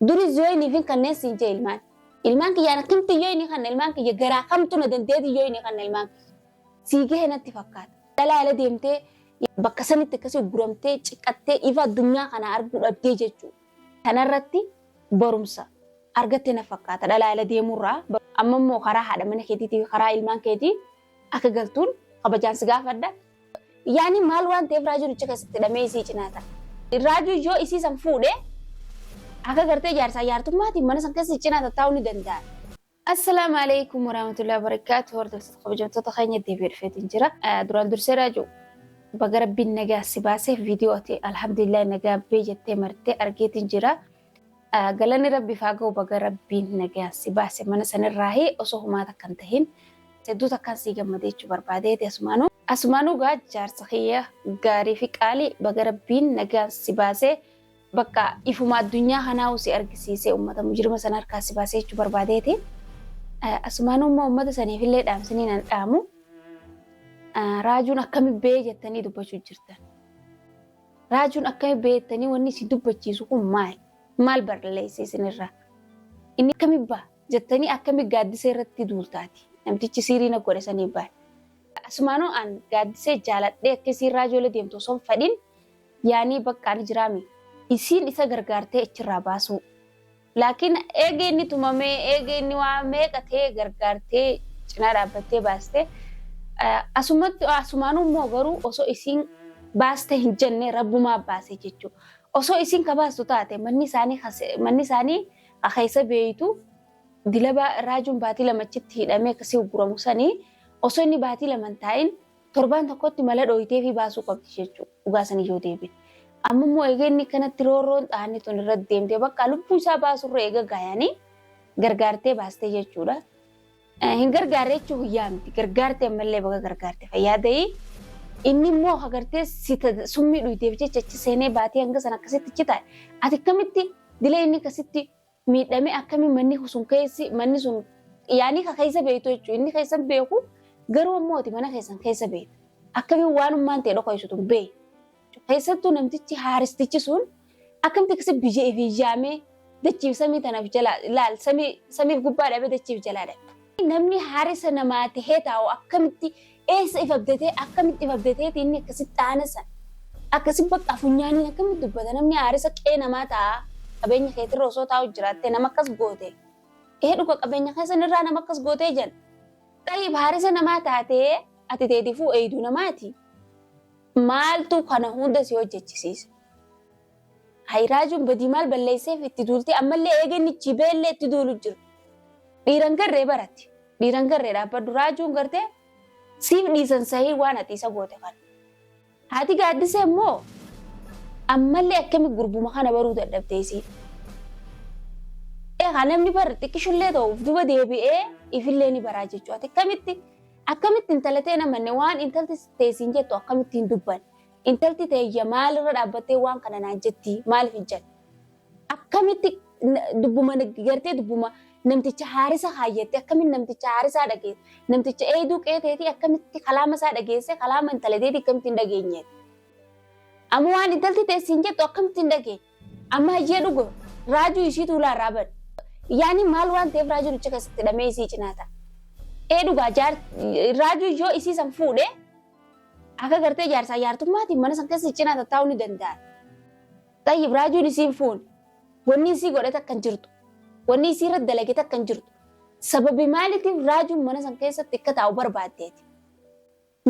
Duris yoo inni fin kanneen siin jee ilmaan. Ilmaan kiyya ana kamtu yoo inni kanna ilmaan kiyya garaa kamtu na dandeeti yoo inni kanna ilmaan kiyya. Sii gahe natti fakkaata. Dhalaa ala deemtee bakka sanitti akkasii guramtee ciqqattee ifa addunyaa kana arguu dhabdee jechuudha. Kanarratti barumsa argatte na fakkaata dhalaa ala deemurraa. Amma immoo karaa haadha mana keetiitii fi karaa ilmaan keetii akka galtuun kabajaan si gaafadha. Yaani maal waan ta'eef raajuun achi keessatti hidhamee isii cinaa ta'a. Raajuun yoo isii san fuudhe akka gartee jaarsaa jaartummaatiin mana san keessa cinaa tattaa'uu ni danda'a. Assalaamu alaikum warahmatullahi wabarakatuh hordoftoota kabajamtoota keenya deebi'ee dhufeetiin jira. Duraan dursee raajuu baga rabbiin nagaa si baasee viidiyoo ati alhamdulillah nagaa bee jettee martee argeetiin jira. Galanni rabbiif haa ga'u baga rabbiin nagayaan si baase mana sanirraahi osoo humaa takka hin tahin hedduu takkaan sii gammadee jechuu barbaadeeti asumaanuu. Asumaanuu gaa jaarsa kiyya gaarii fi qaalii baga rabbiin nagayaan si baase bakka ifuma addunyaa kanaahu si argisiisee ummata mujrima sana harkaa si baasee jechuu barbaadeeti. Asumaanuu immoo ummata saniifillee dhaamsinii nan dhaamu raajuun akkami bee jettanii dubbachuu jirtan. Raajuun akkami beektanii wanni isin dubbachiisu kun maali? Maal barleesse isinirraa? Inni akkami ba'a? Jettanii akkami gaaddisee irratti duultaati? Namtichi siirii na godhe sanii ba'a. Asumaanuu an gaaddisee jaaladhee akka isiin raajoolee deemtu osoo hin fedhin yaanii bakka ani jiraame isiin isa gargaartee achirraa baasuu. Laakiin eega inni tumamee, eega inni waa meeqa ta'ee gargaartee cinaa dhaabbattee baaste, asumatti asumaanuu immoo garuu osoo isiin baaste hin jenne Rabbumaa baase jechuudha. Osoo isiin ka baastu taate manni isaanii ka se- manni isaanii ka keessa beeytu dilaba raajuun baatii lama achitti hidhamee akkasii ugguramu sanii osoo inni baatii lama hin taa'in Torbaan tokkotti mala dhooyteefii baasuu qabdi jechuudha. Dhugaa sanii yoo deebine. Amma immoo egaa inni kanatti roorroon xaanni tun irratti deemtee bakka lubbuu isaa baasurra eega gaayanii gargaartee baastee jechuudha. Hin gargaarre jechuun guyyaa miti. Gargaarte ammallee baga gargaarte fayyaa ta'ii. Inni immoo agartee summii dhuyteef jecha achi seenee baatee hanga sana akkasitti citaa. Ati akkamitti dila inni akkasitti miidhame akkami manni sun keessi manni sun yaanii ka keessa beektu jechuudha. Inni keessan beeku garuu ammoo ati mana keessan keessa beektu. Akkami waanummaan ta'e dhokoysu tun beeyi. Keessattuu namtichi haaristichi sun akkamti akkasi biyya ifii yaamee dachiif samii tanaaf jalaa laal samiif gubbaa dhabee dachiif jalaa dhabe. Namni haarisa namaa ta'ee taa'u akkamitti Eessa if abdatee akkamitti if abdateeti inni akkasitti dhaana san. Akkasi bakka funyaaniin akkamitti dubbata namni aarisa qee namaa taa'a qabeenya keetirra osoo taa'u jiraattee nama akkas goote. Ee dhuga qabeenya keessan irraa nama akkas gootee jan. Xayiib haarisa namaa taatee ati teetifuu eeydu namaati. Maaltu kana hunda si hojjechisiisa. Hay raajuun badii maal balleesseef itti duultee ammallee eega inni ichi beellee itti duulu jiru. Dhiiran garree baratti. Dhiiran garree dhaabbadhu raajuun gartee siif dhiisan sahii waan ati isa goote kana. Haati gaaddisee immoo ammallee akkami gurbuma kana baruu dadhabdee isiin. Egaa namni bar xiqqishullee ta'uuf duba deebi'ee ifillee ni baraa jechuudha. Akkamitti akkamitti intalatee namanne waan intalti teessiin jettu akkamitti hin dubbanne. Intalti teeyya maalirra dhaabbattee waan kana naan jetti maaliif hin jedhe? Akkamitti na- dubbuma na- gartee dubbuma namticha haarisa kaayyatte akkamitti namticha haarisaa dhageesse namticha eeyduu qeeteetii akkamitti kalaama isaa dhageesse kalaama intala teetii akkamitti hin dhageenye? Amma waan intalti teessi hin jettu akkamitti hin dhageenye? Amma hayyee dhugo raajuu ishii tuulaa irraa bade. Yaani maal waan ta'eef raajuu ducha keessatti hidhamee isii cinaa ta'a. Ee dhugaa jaar raajuu yoo isii san fuudhee Akka gartee jaarsaa jaartummaatiin mana san keessa cinaa tattaa'uu ni danda'an. Xayyib raajuun isiin fuune. Wanni isii godhe takka hin jirtu. Wanni isii irratti dalage takka hin jirtu. Sababi maaliitiif raajuun mana san keessatti akka taa'u barbaaddeeti.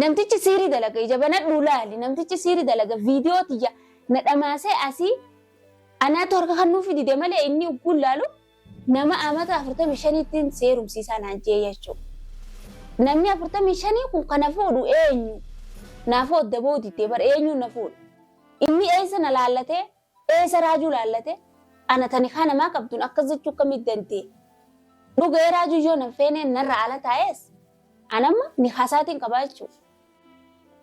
Namtichi siirii dalaga ija banadhuu laali. Namtichi siirii dalaga viidiyoo tiyya na dhamaasee asii anaatu harka kan nuuf dide malee inni ugguun laalu Nama amata 45ttin si herumsiisaa naan jee yachoo namni 45 kun ka na fuudhu eenyu naaf hoo adda bahuu diddee bar eenyuun na fuudha inni eessa na laallatee eessa raajuu laallate ana ta nikaa namaa qabdun akkas jechuu akkamii dandee dhuga ee raajuu yoo nan feenee narra ala taa'ees an amma nikaa isaatiin qabaa jechuu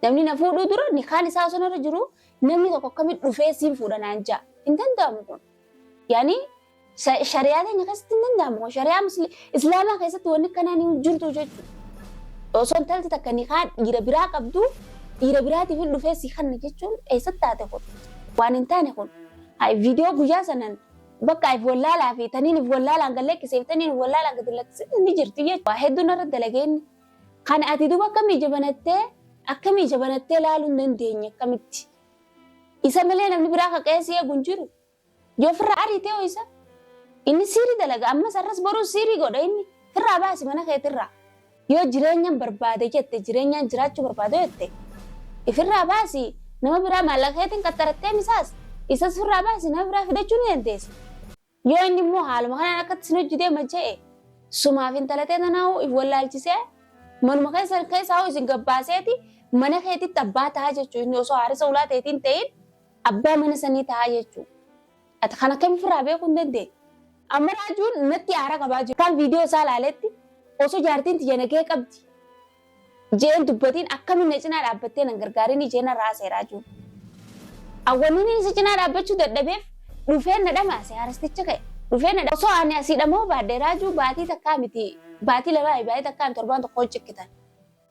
namni na fuudhuu dura nikaan isaa osoo narra jiruu namni tokko akkamii dhufee siin fuudha naan jaa hin danda'amu kun yaani Sha- Shari'aa keenya keessatti hin danda'amu. Shari'aa musli- islaamaa keessatti wanni akkanaa ni jirtu jechuudha. Osoo intalti takka nikaa dhiira biraa qabdu dhiira biraatiif hin dhufee si kanna jechuun eessatti taate kun waan hin taane kun. Hayi viidiyoo guyyaa sanan bakka if wallaalaa fi taniin if wallaalaan gad lakkiseef taniin if wallaalaan gad lakkise ni jirti jechuudha. Waa hedduun irra dalageenni. Kan ati duba akkamii jabanattee akkamii jabanattee laaluu hin dandeenye akkamitti. Isa malee namni biraa kaqee si eegu hin jiru. Yoo firra ariite hoo isa? Inni siiri dalaga ammas arras borus siiri godha inni. Firraa baasi mana keetirraa. Yoo jireenyan barbaade jette jireenyaan jiraachuu barbaadu jette ifirraa baasi nama biraa maallaqa keetiin qaxxarattee misaas isas firraa baasi nama biraa fidachuu ni dandeessa. Yoo inni immoo haaluma kanaan akkatti isin hojji deema je'e sumaaf intalatee tanaa'uu if wallaalchisee manuma keessan keessaa hoo isin gabbaaseeti mana keetitti abbaa ta'a jechuun inni osoo haarisa ulaa teetiin ta'in Abbaa mana sanii tahaa jechuu. Ati kan akkami firraa beekuu hin dandeenye. Amma raajuun natti aara qabaa jiru. Akkaan video isaa laaletti osoo jaartiin tiyya nagaya qabdi je'een dubbatiin akkamiin na cinaa dhaabbattee nan gargaarinii je'ee narra haasa'e raajuun. An wanniiniin isa cinaa dhaabbachuu dadhabeef dhufeen na dhamaase haarasticha ka'e. Dhufee na osoo ani asii dhama'uu baadhe raajuu baatii takkaa miti baatii lamaa baatii takkaa miti torbaan tokkoon cikkitan.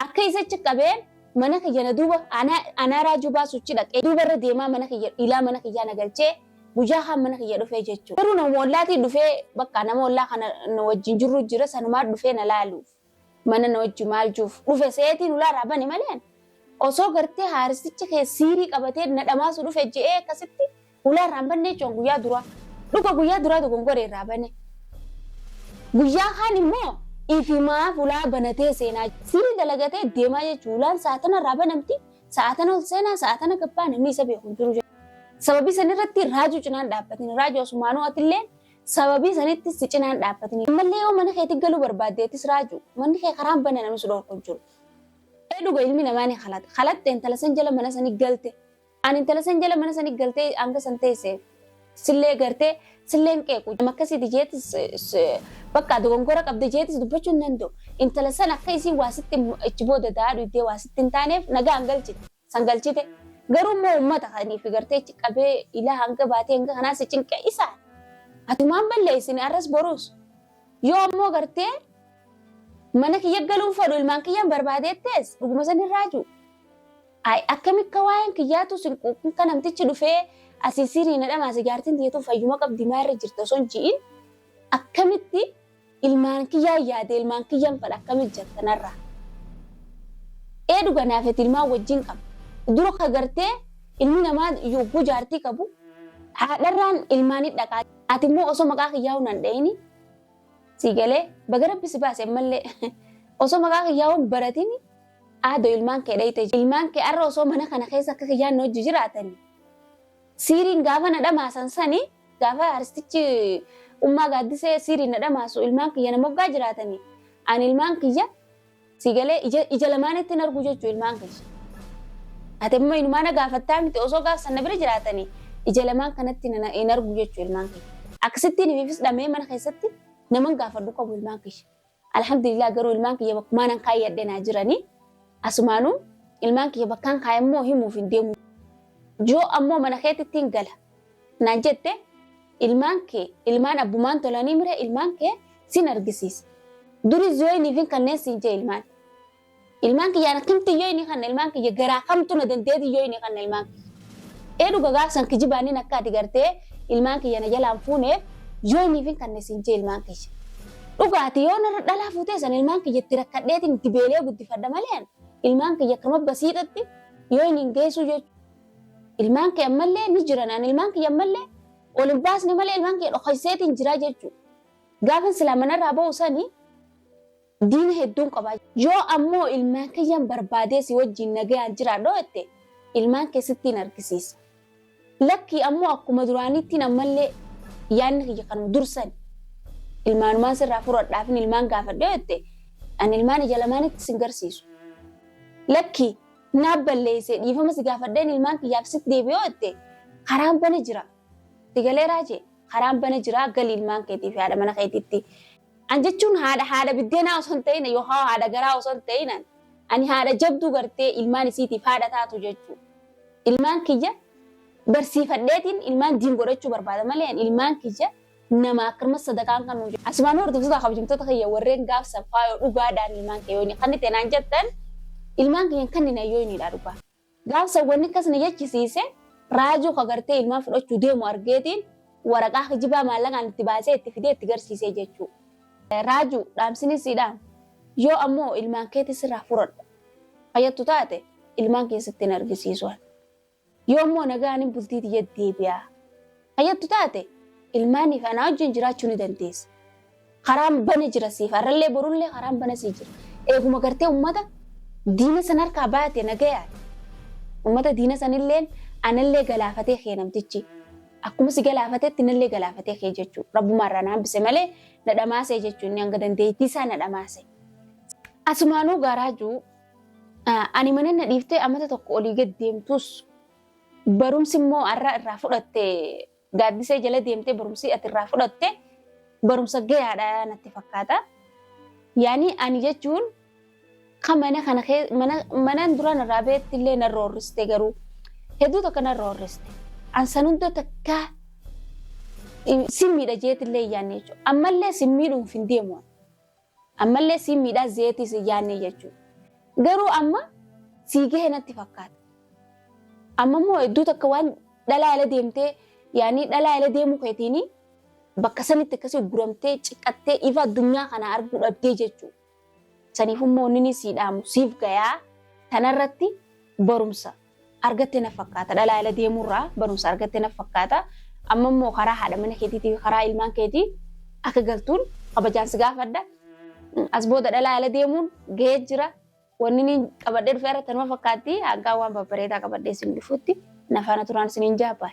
Akka isa achi qabee mana kiyya na duuba anaa anaa raajuu baasuuchi dhaqee duuba irra deemaa mana kiyya ilaa mana kiyyaa na galchee guyyaa kaan mana kiyya dhufee jechuu. Garuu nama ollaatii dhufee bakka nama ollaa kana na wajjin jirru jira sanumaa dhufee na laaluuf mana na wajji maal juuf dhufe seetii nulaa irraa bane maleen osoo gartee haaristichi kee siirii qabatee na dhamaasu dhufe je'ee akkasitti Ulaa irraan bannee jechuun guyyaa duraa. Dhuga guyyaa duraa dogongoree irraa bane. Guyyaa kaan immoo ifimaaf ulaa banatee seenaa. Sirii dalagatee deemaa jechuun ulaan sa'aatana irraa banamti. Sa'aatana ol seenaa sa'aatana gabbaa namni isa beeku hin jiru. Sababii san irratti raajuu cinaan dhaabbatini. Raajuu asumaanuu atillee sababii sanitti si cinaan dhaabbatini. Ammallee yoo mana keetti galuu barbaaddeettis raajuu manni kee karaan bana namni si dhorku hin jiru. Dhuga ilmi namaa ni kalata. Kalatte intala san jala mana sanii galte. Ani intala san jala mana sani galtee hanga san teesse sillee gartee silleen qeequ nama akkasiiti jeetis bakka dogongora qabda jeetis dubbachuu hin danda'u. Intala san akka isiin waa sitti achi booda daadhu iddee waa sitti hin taaneef nagaan galchite san galchite. Garuu immoo uummata kaniif gartee achi qabee ilaa hanga baatee hanga kanaa si cinqe isaan. Atumaan balleessine arras boruus. Yoo ammoo gartee mana kiyya galuun fedhu ilmaan kiyyaan barbaadeettees dhuguma san hin raajuu. Ay akkami akka waa'een kiyyaatuu sin quuqin ka namtichi dhufee asii sirii na dhamaase jaartiin tiyya tun fayyuma qabdi maa irra jirta osoo hin ji'in akkamitti ilmaan kiyyaa yaade ilmaan kiyyan fadha akkami jirta narraa. Ee dhuga naafeti ilmaan wajjin qaba. Dura ka gartee ilmi namaa yogguu jaartii qabu haadharraan ilmaan hin dhaqaa. Ati immoo osoo maqaa kiyyaa hunaan dha'ini sii galee baga rabbi si baase ammallee osoo maqaa kiyyaa hun baratini Aado ilmaan kee dhayxee jirta. Ilmaan kee arra osoo mana kana keessa akka kiyyaan na hojji jiraatani. Siiriin gaafa na dhamaasan sani gaafa arstichi ummaa gaaddisee siiriin na dhamaasu ilmaan kiyya na moggaa jiraatani. Ani ilmaan kiyya siigalee ija lamaanitti nargu jechuu ilmaan kiyya. Ati amma inumaa na gaafattaa miti osoo gaafsan na bira jiraatani ija lamaan kanatti hin argu jechuu ilmaan kiyya. Akkasittiin himifis dhamee mana keessatti naman gaafadhu qabu ilmaan kiyya. Alhamdulillah garuu ilmaan kiyya bakkumaanan kaayyadhe naa jiranii. Asumaanuu ilmaan kiyya bakkaan kaayammoo himuuf hin deemu. Yoo ammoo mana keetitti hin gala. Naan jette ilmaan kee ilmaan abbumaan tolanii mire ilmaan kee sin argisiisa. Duri zooyiniifin kanneen siin jee ilmaan. Ilmaan kiyya akkamti yoo inni kanna ilmaan kiyya garaa kamtu na dandeeti yoo inni kanna ilmaan kiyya. Ee dhuga gaafsan kijibaannin akka ati gartee ilmaan kiyya na jalaan fuuneef yoo inni fin kanne siin jee ilmaan kiyya. Dhuga ati yoo narra dhalaa fuutee san ilmaan kiyya itti rakkadheetiin itti beelee guddifadha malee an ilmaan kiyya akkam abba siidhatti yoo inni hin geessuu yoo ilmaan kee ammallee ni jiran an ilmaan kiyya ammallee ol hin baasne malee ilmaan kiyya dhokaiseetiin jiraa jechuu. Gaafan silaa manarraa ba'u sanii Diina hedduun qaba. Yoo ammoo ilmaan kiyyan barbaadee si wajjiin nagayaan jiraadha jette, ilmaan kee sittiin argisiisa. Lakkii ammoo akkuma duraaniittiin ammallee yaanni kiyya kanuma dur sani. Ilmaanumaan sirraa fudhadhaafin ilmaan gaafadha yoo jette, ani ilmaan ija lamaanitti sin garsiisu. Lakkii, naaf balleessee dhiifama si gaafadheen ilmaan kiyyaaf sitti deebi'a yoo jette, karaan bana jira. Si galeeraa jee? Karaan bana jira, gali ilmaan keetii fi haadha mana keetitti. An jechuun haadha haadha biddeenaa osoo hin ta'in yookaan haadha garaa osoo hin ta'in an ani haadha jabduu gartee ilmaan isiitiif haadha taatu jechuu. Ilmaan kiyya barsiifadheetiin ilmaan diin godhachuu barbaada malee an ilmaan kiyya nama akkasumas sadaqaan kan nuun Asumaan hordoftoota kabajamtoota kiyya warreen gaafsan faayoo dhugaadhaan ilmaan kee yooyni kannite naan jettan ilmaan kiyyan kannina yooyniidha dhugaa. Gaafsan wanni akkas na jechisiise raajuu ka gartee ilmaan fudhachuu deemu argeetiin waraqaa kijibaa maallaqaan itti baasee itti fidee itti garsiisee jechuu. Raajuu dhaamsiniin sii dhaamu yoo ammoo ilmaan keetii sirraa furadhu ka jettu taate ilmaan kiyya sitti hin argisiisu ani. Yoo ammoo nagayaan hin bultii tiyya deebi'aa Fayyattu taate ilmaaniif anaa wajjin jiraachuu ni dandeessa. Karaan bana jira siif har'allee borullee karaan bana sii jira. Eeguma gartee ummata diina san harkaa baate nagayaan. Ummata diina sanilleen anallee galaafatee kee namtichi. Akkuma si galaafatetti nallee galaafatee kee jechuu. Rabbumaa irraa na hambise malee na dhamaasee jechuu inni hanga dandeettii isaa na dhamaase. Asumaanuu gaaraajuu ani mana na dhiiftee amata tokko olii gad deemtus Barumsi immoo har'a irraa fudhatte gaaddisee jala deemtee barumsi ati irraa fudhatte barumsa gayaadha natti fakkaata. Yaani ani jechuun kan mana kana kee- mana manaan duraan irraa beetti illee narra horriste garuu hedduu tokko narra horriste. An san hunda takkaa eh, sin miidha jeetti illee yaanne jechuudha. Ammallee sin miidhuuf hin deemu. Ammallee siin miidhaa zeetii sin yaannee jechuudha. Garuu amma sii gahe natti fakkaata. Amma immoo hedduu takka waan dhalaa ala deemtee yaanii dhalaa ala deemuu keetiini bakka sanitti akkasii guramtee ciqqattee ifa addunyaa kana arguu dhabdee jechuudha. Saniif immoo inni sii dhaamu siif gayaa tanarratti barumsa. argatte na fakkaata. Dhalaa ala deemuurraa barumsa argatte na fakkaata. Amma immoo karaa haadha mana keetiitii fi karaa ilmaan keetii akka galtuun kabajaan si gaafadha. As booda dhalaa ala deemuun gahee jira. Wanni inni qabadhee dhufee irratti nama fakkaatti. Hangaa waan babbareedaa qabadhee isin dhufutti na faana turaan isiniin jaabaan.